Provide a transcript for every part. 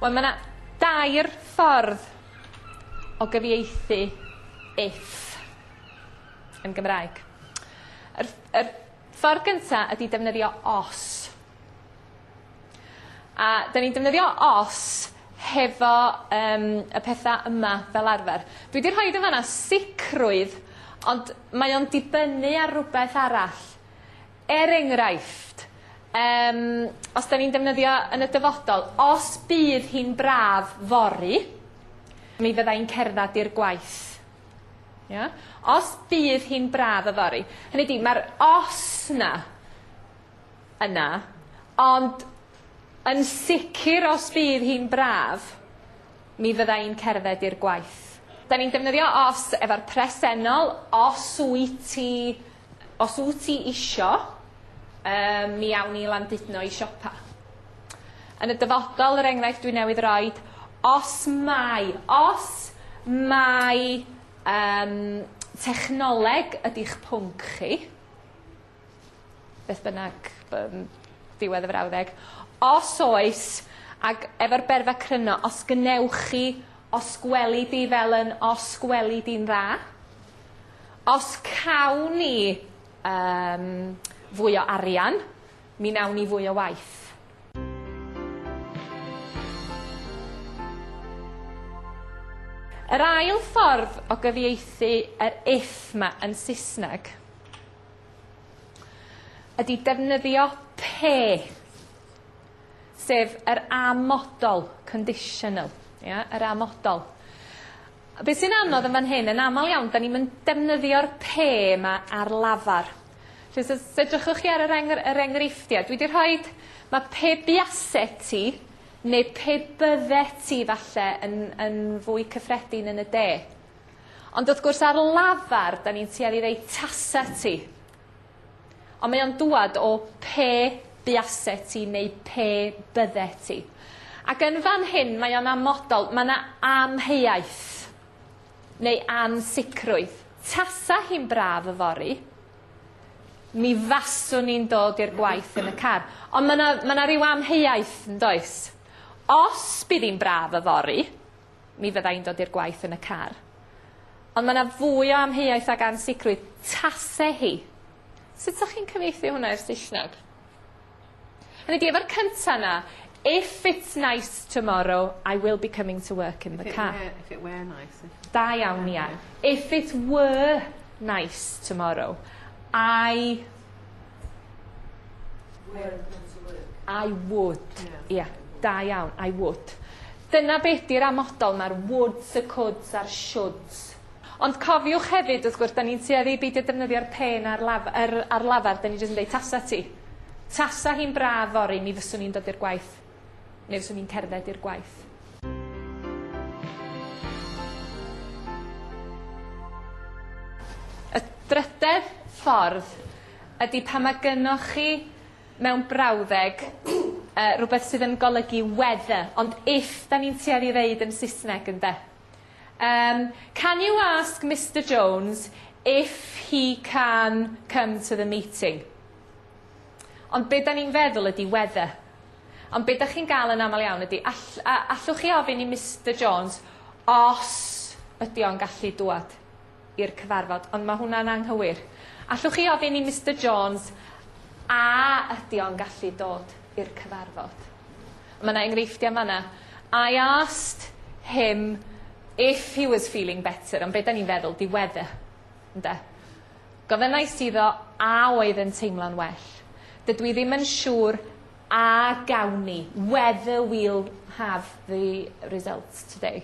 Wel ma' 'na dair ffordd o gyfieithu if yn Gymraeg. Yr ff- yr ffordd gynta ydi defnyddio os. A 'dyn ni'n defnyddio os hefo yym y petha yma fel arfer. Dwi 'di rhoid yn fan 'na sicrwydd ond mae o'n dibynnu ar rwbeth arall. Er enghraifft yym os 'dyn ni'n defnyddio yn y dyfodol os bydd hi'n braf fory mi fydda i'n cerddad i'r gwaith. Ia? Os bydd hi'n braf yfory. Hynny 'di ma'r os 'na yna, ond yn sicr os bydd hi'n braf, mi fydda i'n cerdded i'r gwaith. Da ni'n defnyddio os efo'r presennol, os wyt ti, os wyt ti isio, um, mi awn ni landudno i siopa. Yn y dyfodol, yr enghraifft dwi newydd roi, os mai, os mai um, technoleg ydy'ch pwnc chi, beth bynnag yym diwedd y frawddeg. Os oes, ag efo'r berfa cryno, os gwnewch chi, os gweli di fel yn os gweli di'n dda, os cawn ni um, fwy o arian, mi nawn ni fwy o waith. Yr ail ffordd o gyfieithu yr if 'ma yn Saesneg ydy defnyddio pe, sef yr amodol, conditional, ia, yr amodol. Be sy'n anodd yn fan hyn, yn aml iawn, da ni'n mynd defnyddio'r pe yma ar lafar. Felly, os os edrychwch chi ar yr, engr, yr enghreifftiau, dwi wedi rhoi, mae pe biase ti, neu pe bydde ti falle yn, yn fwy cyffredin yn y de. Ond wrth gwrs ar lafar 'da ni'n tueddu i ddeud tase ti. Ond mae o'n dŵad o pe buase ti neu pe bydde ti. Ac yn fan hyn mae o'n amodol, mae 'na amheuaeth neu ansicrwydd. Tasa hi'n braf yfory, mi faswn i'n dod i'r gwaith yn y car. Ond mae 'na ma' 'na ryw amheuaeth, yn does? Os bydd hi'n braf yfory, mi fydda i'n dod i'r gwaith yn y car. Ond mae 'na fwy o amheuaeth ag ansicrwydd, tase hi. Sut 'sach chi'n cyfieithu hwnna i'r Saesneg? Hynny di, efo'r cynta 'na, if it's nice tomorrow, I will be coming to work in the car. If it were, if it were nice. Da iawn, Ia. If it were nice tomorrow, I I would. Ie. Yeah. Da iawn. I would. Dyna be' 'di'r amodol, mae'r woulds, y could's a'r should's. Ond cofiwch hefyd wrth gwrs 'dan ni'n tueddu i beidio defnyddio'r pen ar laf- yr ar lafar 'dan ni jyst yn deud tasa ti. Tasa hi'n braf fory mi fyswn i'n dod i'r gwaith. Neu fyswn i'n cerdded i'r gwaith. Y drydedd ffordd ydy pan mae gynoch chi mewn brawddeg uh, rhywbeth sydd yn golygu whether, ond if da ni'n tueddu ddeud yn Saesneg ynde. Um, can you ask Mr Jones if he can come to the meeting? Ond be da ni'n feddwl ydy whether. Ond be' 'dach chi'n ga'l yn amal iawn ydi all- a- allwch chi ofyn i Mister Jones os ydi o'n gallu dŵad i'r cyfarfod ond ma' hwnna'n anghywir. Allwch chi ofyn i Mister Jones a ydi o'n gallu dod i'r cyfarfod. Ma' 'na enghreifftia' fan 'na. I asked him if he was feeling better ond be' 'dan ni'n feddwl 'di weather ynde? Gofynnais iddo a oedd yn teimlo'n well. Dydw i ddim yn siŵr a gawn ni, whether we'll have the results today.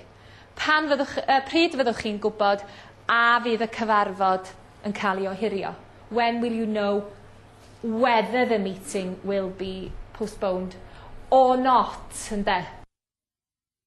Pan fyddwch, uh, pryd fyddwch chi'n gwybod a fydd y cyfarfod yn cael ei ohirio? When will you know whether the meeting will be postponed or not, ynde?